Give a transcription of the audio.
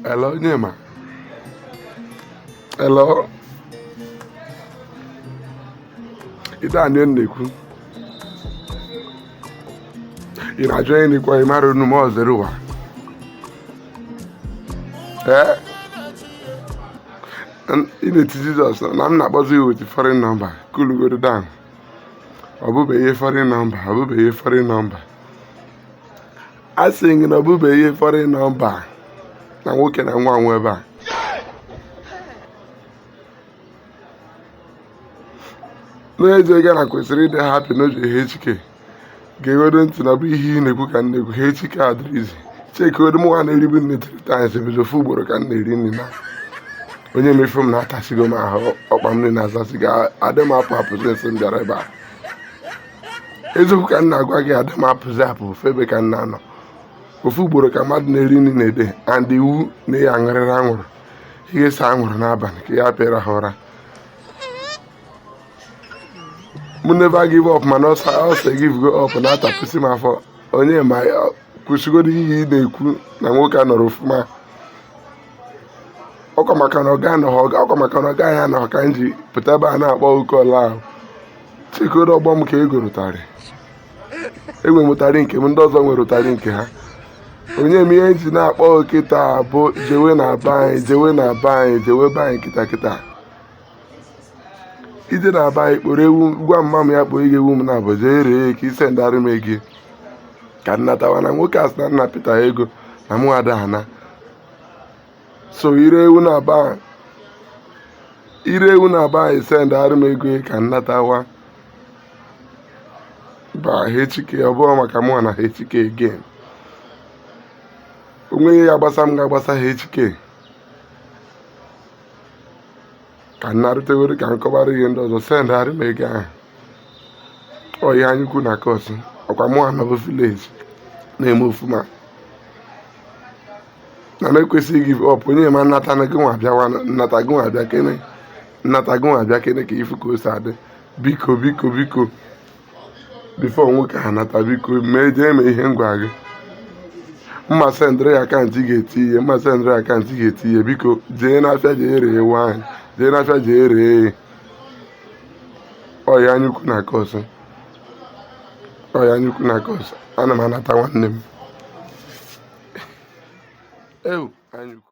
Hello, Onyema. Hello. Ibe a na na-ekwu. Ị na-ajụ onye na-ekwu ị marọ unu ma ọ zere ụwa. Ee? Ị na-eti Jizọs na m na-akpọzi ya with foreign number. Coolugodi down. Ọ bụbeghị foreign number. Ọ bụbeghị foreign number. a sị gị na ọ bụbeghị foreign number na nwoke na-anwa anwa ebe a n'ezie gị na-ekwesịrị ịdị happy n'oge HK gegodo ntị na bụ ihe ị na-ekwu ka m na-ekwu HK adịrọ easy checkigodo m nwa na-eribu nri three times ebido ofu ugboro ka m na-eri nri na Onyema ị fụ m na atasịgo m ahụ ọkpa m nri na-azasị ga adị m apụ apụ since m bịara ebe a eziokwu ka m na-agwa gị ada m apụzi apụ ofu ebe ka m na-anọ ofu ugboro ka mmadụ na-eri nri na day and iwu na ị ya-aṅụrịrị anwụrụ ị ga-ese anwụrụ n'abalị ka ị ya-apụ ịrahụ ụra m never give up mana ulcer givego up na-atapụsị m afọ Onyema kwụsịgodo ihe ị na-ekwu na nwoke anọrọ ofụma ọkwa maka na ọga anọghị ya ọkwa maka na ọga ahụ anọghị ka m ji pụta ebe a na-akpọ call ahụ checkigodo ọgbọ m ka e gooro ụtarị enwee m ụtarị nke m ndị ọzọ nwere ụtarị nke ha Onyema ihe m ji na-akpọ kịta bụ jewe na be anyị jewe na be anyị jewe be anyị kịta kịta ị jee na be anyị kpọrọ ewu gwa mama m ya kpọọ gị ewu m nabọ jee ree ka ị sendarị m ego ka m natawa na nwoke a sị na nna pita ego na mụ ada ana so i ree ewu na be i ree ewu na be anyị sendarị m ego ka m natawa ba hk ọ bụrụ maka mụ na hk again o nweghị ihe gbasa m ga-agbasa hk ka m narute were ka m kọwara ihe ndị ọzọ sendarị m ego ahụ ọ ihe anya ukwu na-acause ọkwa mụwa nọbu village na-eme ofuma na m ekwesịghị give up Onyema m nata gị nwa bịawa m nata gị nwa bịakene m nata gị nwa bịakene ka ị fụ ka o si adị biko biko biko before nwoke a nata biko mee jee mee ihe m gwa gị m ma sendịrị gị account ị ga-etiye m ma sendịrị gị account ị ga-etiye biko jee n'afịa jee ree ewu ahụ jee n'afịa jee ree ya ọ ihe anya ukwu na-acause ọ ihe anya ukwu na-acause ana m anata nwanne m ewu anya ukwu